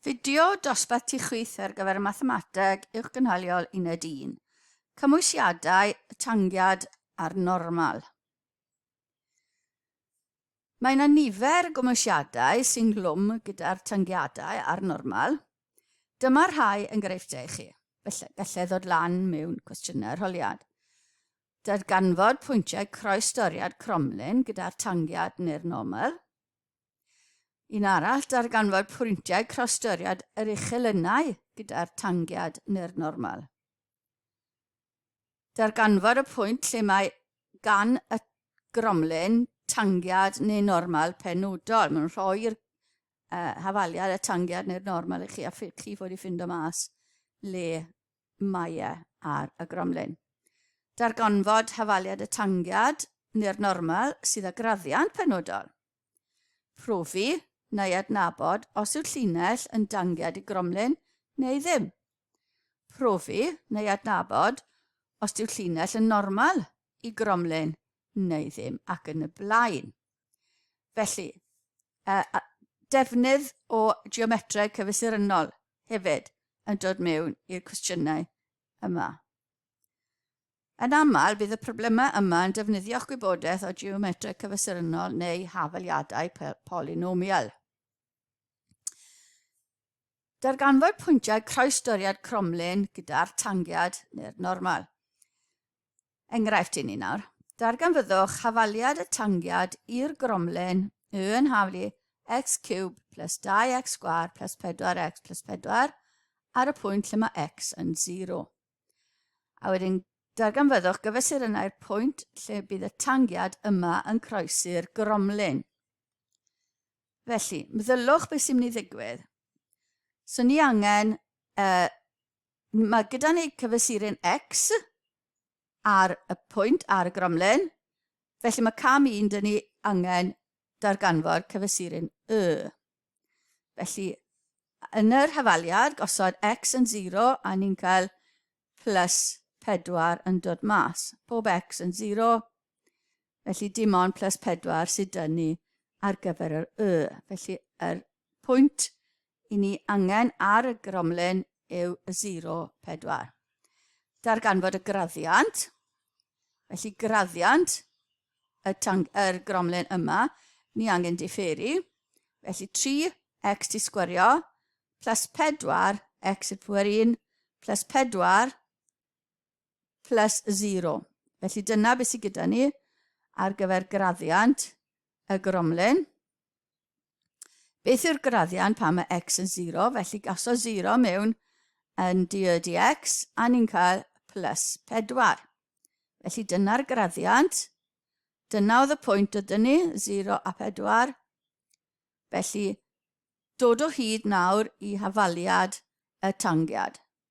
Fideo dosbarth ti chwith ar gyfer Mathemateg Uwchgynhaliol Uned 1. Cymwysiadau y tangiad a'r normal. Mae yna nifer gymwysiadau sy'n glwm gyda'r tangiadau a'r normal. Dyma'r rhai enghreifftiau i chi. Felly, gallai ddod lan mewn cwestiynau arholiad. Darganfod pwyntiau croes doriad cromlin gyda'r tangiad neu'r normal. Un arall, darganfod pwyntiau crostyriad yr uchelynnau gyda'r tangiad neu'r normal. Darganfod y pwynt lle mae gan y gromlin tangiad neu normal penodol. Mae'n rhoi'r uh, hafaliad y tangiad neu'r normal i chi a chi fod i ffindo mas le Maia ar y gromlin. Darganfod hafaliad y tangiad neu'r normal sydd â graddiant penodol. Profi neu adnabod os yw'r llinell yn dangiad i gromlin neu ddim. Profi neu adnabod os yw'r llinell yn normal i gromlin neu ddim ac yn y blaen. Felly, uh, a defnydd o geometreg cyfesurynnol hefyd yn dod mewn i'r cwestiynau yma. Yn aml, bydd y problemau yma yn defnyddio'ch gwybodaeth o geometreg cyfesurynnol neu hafaliadau polynomial. Darganfod pwyntiau croesdoriad cromlin gyda'r tangiad neu'r normal. Enghraifft i ni nawr. Darganfyddwch hafaliad y tangiad i'r gromlen y yn haflu x cube plus 2x sgwar plus 4x plus 4 ar y pwynt lle mae x yn 0. A wedyn darganfyddwch gyfesurynnau'r pwynt lle bydd y tangiad yma yn croesi'r gromlen. Felly, mddyllwch beth sy'n mynd i ddigwydd. So ni angen uh, Mae gyda ni cyfesurin X ar y pwynt ar y gromlen, felly mae cam 1 dyn ni angen darganfod cyfesurin Y. Felly, yn yr hafaliad, gosod X yn 0 a ni'n cael plus 4 yn dod mas. Pob X yn 0, Felly dim ond plus 4 sydd dyn ni ar gyfer yr Y. Felly yr pwynt i ni angen ar y gromlen yw y 0, 4. Darganfod y graddiant, felly graddiant y tang, yr gromlen yma, ni angen diferu, felly 3x ti sgwario plus 4x yn fwyr 1 plus 4 plus zero. Felly dyna beth sydd gyda ni ar gyfer graddiant y gromlin. Beth yw'r graddiant pan mae x yn 0? Felly gaso 0 mewn yn dy dx a ni'n cael plus 4. Felly dyna'r graddiant. Dyna oedd y pwynt oedd ni, 0 a 4. Felly dod o hyd nawr i hafaliad y tangiad.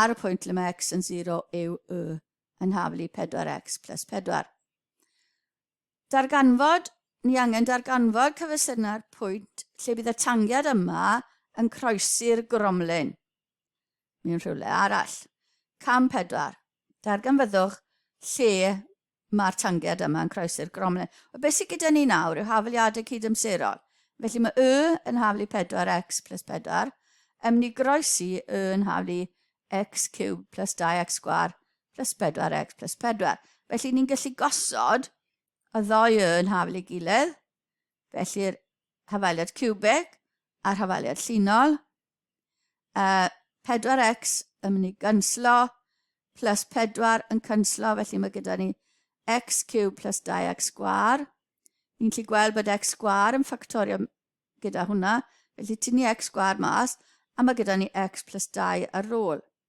ar y pwynt lle mae x yn 0 yw y yn haflu 4x plus 4. Darganfod, ni angen darganfod cyfesyna'r pwynt lle bydd y tangiad yma yn croesi'r gromlin mewn rhywle arall. Cam 4. Darganfyddwch lle Mae'r tangiad yma yn croesi'r gromlin. Wel, beth sydd gyda ni nawr yw hafaliadau cydamserol. Felly mae y yn haflu 4x plus 4. Ym ni groesi y yn haflu x cubed plus 2x sgwar plus 4x plus 4. Felly ni'n gallu gosod y ddoi y yn haflu ei gilydd. Felly'r hafaliad cubeg a'r hafaliad llinol Uh, 4x yn mynd i gynslo, plus 4 yn cynslo, felly mae gyda ni x cube plus 2x sgwar. Ni'n gallu gweld bod x sgwar yn ffactorio gyda hwnna, felly tynnu x sgwar mas, a mae gyda ni x plus 2 ar ôl.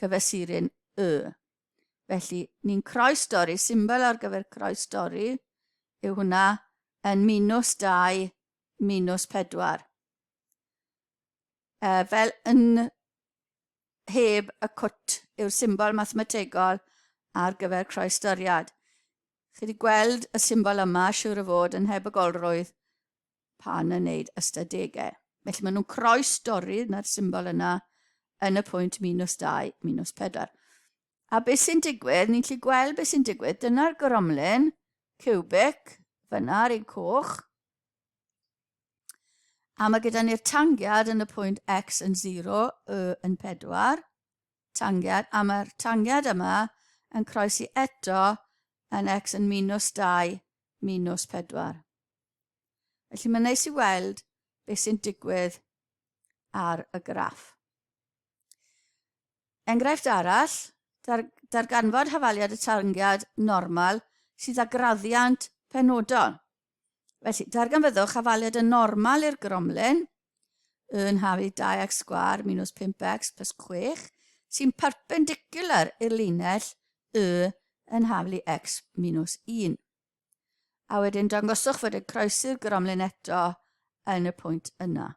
cyfesurin Y. Felly, ni'n croes dorri, symbol ar gyfer croes dorri yw hwnna yn minus 2, minus 4. E, fel yn heb y cwt yw'r symbol mathemategol ar gyfer croes doriad. Chi wedi gweld y symbol yma, siwr o fod, yn heb y golrwydd, pan yn neud ystadegau. Felly maen nhw'n croi stori, na'r symbol yna, yn y pwynt minus 2, minus 4. A beth sy'n digwydd, ni'n lle gweld beth sy'n digwydd, dyna'r goromlyn, cubic, fyna ar ein coch, A mae gyda ni'r tangiad yn y pwynt x yn 0, y yn 4, tangiad, a mae'r tangiad yma yn croesi eto yn x yn minus 2, minus 4. Felly mae'n neis i weld beth sy'n digwydd ar y graff. Enghraifft arall, dar, darganfod hafaliad y tangiad normal sydd â graddiant penodol. Felly, darganfyddwch hafaliad y normal i'r gromlin yn hafu 2x sgwar minus 5x plus 6 sy'n perpendicular i'r linell y yn haflu x minus 1. A wedyn dangoswch fod y croesi'r gromlin eto yn y pwynt yna.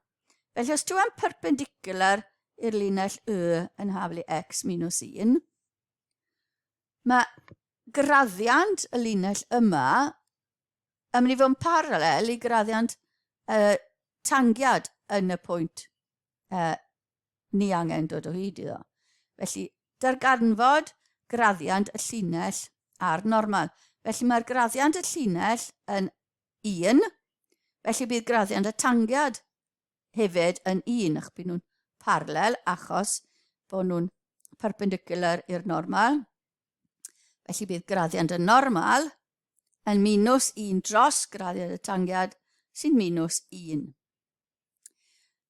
Felly os ti am perpendicular i'r linell Y yn haflu X minus 1, mae graddiant y linell yma yn mynd i fod yn paralel i graddiant y tangiad yn y pwynt uh, ni angen dod o hyd iddo. Felly, darganfod graddiant y llinell a'r normal. Felly mae'r graddiant y llinell yn 1, felly bydd graddiant y tangiad hefyd yn 1, ac bydd nhw'n parallel achos bod nhw'n perpendicular i'r normal. Felly bydd graddiant y normal yn minus 1 dros graddiant y tangiad sy'n minus 1.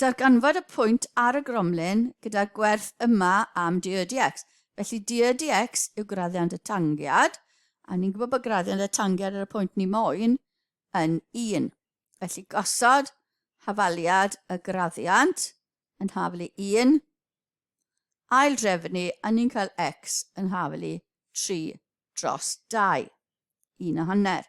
Darganfod y pwynt ar y gromlin gyda'r gwerth yma am du y dx. Felly du y dx yw graddiant y tangiad, a ni'n gwybod bod graddiant y tangiad ar y pwynt ni moyn yn 1. Felly gosod hafaliad y graddiant yn hafel i 1, ail drefnu, a ni'n cael x yn hafel i 3 dros 2, 1 a hanner.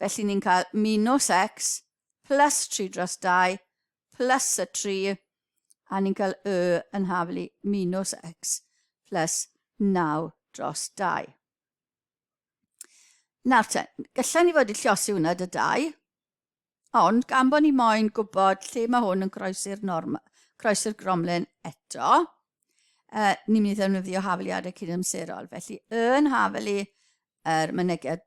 Felly ni'n cael minws x plus 3 dros 2 plus y 3, a ni'n cael y yn hafel i minws x plus 9 dros 2. Nawr te, gallai ni fod i llosi hwnna dy dau, ond gan bod ni moyn gwybod lle mae hwn yn croesi'r norm, croesi'r gromlen eto, uh, ni'n mynd i ddefnyddio hafeliadau cydamserol. Felly, yn hafelu yr er mynegiad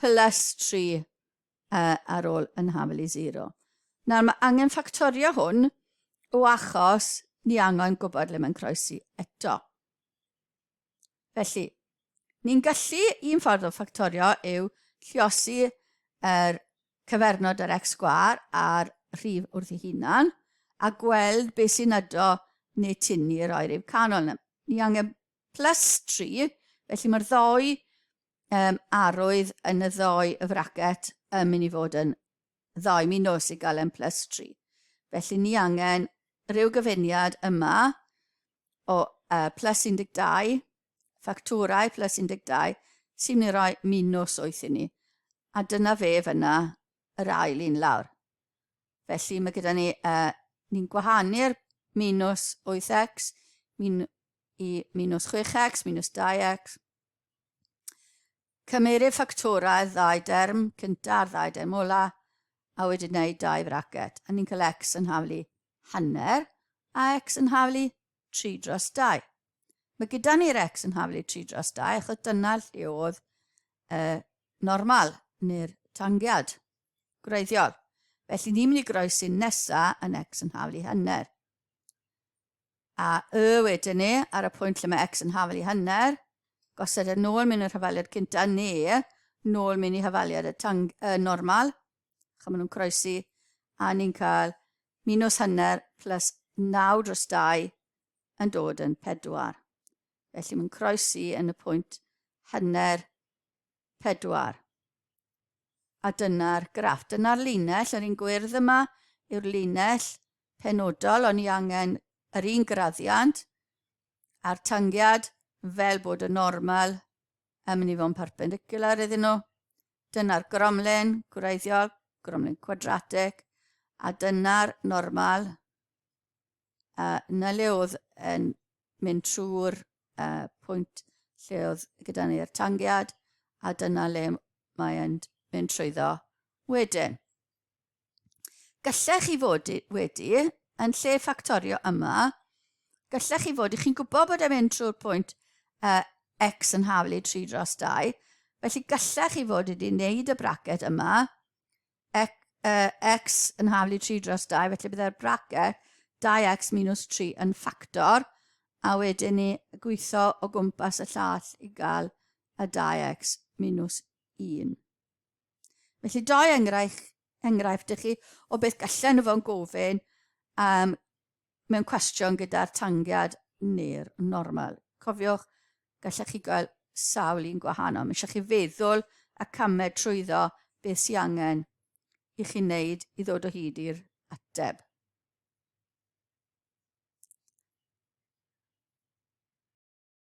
plus tri ar ôl yn hafel i zero. Nawr mae angen ffactorio hwn o achos ni angen gwybod le mae'n croesi eto. Felly, ni'n gallu, un ffordd o ffactorio yw lliosi yr cyfernod yr x gwar a'r rhif wrth ei hunan a gweld beth sy'n ydo neu tyn ni roi rhyw canol. Ni angen plus 3, felly mae'r ddoi um, arwydd yn y ddoe y fracet yn mynd i fod yn ddoe mi nos i gael yn plus 3. Felly ni angen rhyw gyfuniad yma o uh, plus 12, ffactorau plus 12, sy'n mynd i roi minus 8 i ni. A dyna fe fyna yr ail un lawr. Felly mae gyda ni, uh, ni'n gwahanu'r minus 8x min, i minus 6x, minus 2x, Cymeru ffactorau'r ddau derm cynta a'r ddau derm ola, a wedyn gwneud dau fracet, a ni'n cael x yn haflu hanner, a x yn haflu 3 dros 2. Mae gyda ni'r x yn haflu 3 dros 2, achos dyna lle oedd y normal, neu'r tangiad gwreiddiol. Felly ni'n mynd i groesi'n nesa yn x yn haflu hanner. A Y wedyn ni, ar y pwynt lle mae X yn hafel i hanner, gosod e nôl mewn i'r hafaliad cynta, neu nôl mewn i hafaliad y tang, y normal, chymryd nhw'n croesi, a ni'n cael minus hanner plus 9 dros 2 yn dod yn 4. Felly mae'n croesi yn y pwynt hanner pedwar. A dyna'r graff. Dyna'r linell, yr un gwyrdd yma yw'r linell penodol, ond ni angen yr un graddiant a'r tangiad fel bod y normal yn mynd i fod yn perpendicular iddyn nhw. Dyna'r gromlin gwreiddiol, gromlin quadratic, a dyna'r normal uh, na le oedd yn mynd trwy'r uh, pwynt lle oedd gyda ni'r tangiad, a dyna le mae'n mynd trwyddo wedyn. Gallech chi fod wedi, yn lle ffactorio yma, gallech chi fod i chi'n gwybod bod e'n mynd trwy'r pwynt uh, x yn haflu 3 dros 2, felly gallech chi fod wedi wneud y bracet yma, x, uh, x yn haflu 3 dros 2, felly byddai'r bracket 2x minus 3 yn ffactor, a wedyn ni gweithio o gwmpas y llall i gael y 2x minus 1. Felly, doi enghraifft, enghraifft ych chi o beth gallen nhw fo'n gofyn um, mewn cwestiwn gyda'r tangiad neu'r normal. Cofiwch, gallech chi gael sawl un gwahanol. Mae eisiau chi feddwl a camed trwyddo beth sy'n angen i chi wneud i ddod o hyd i'r ateb.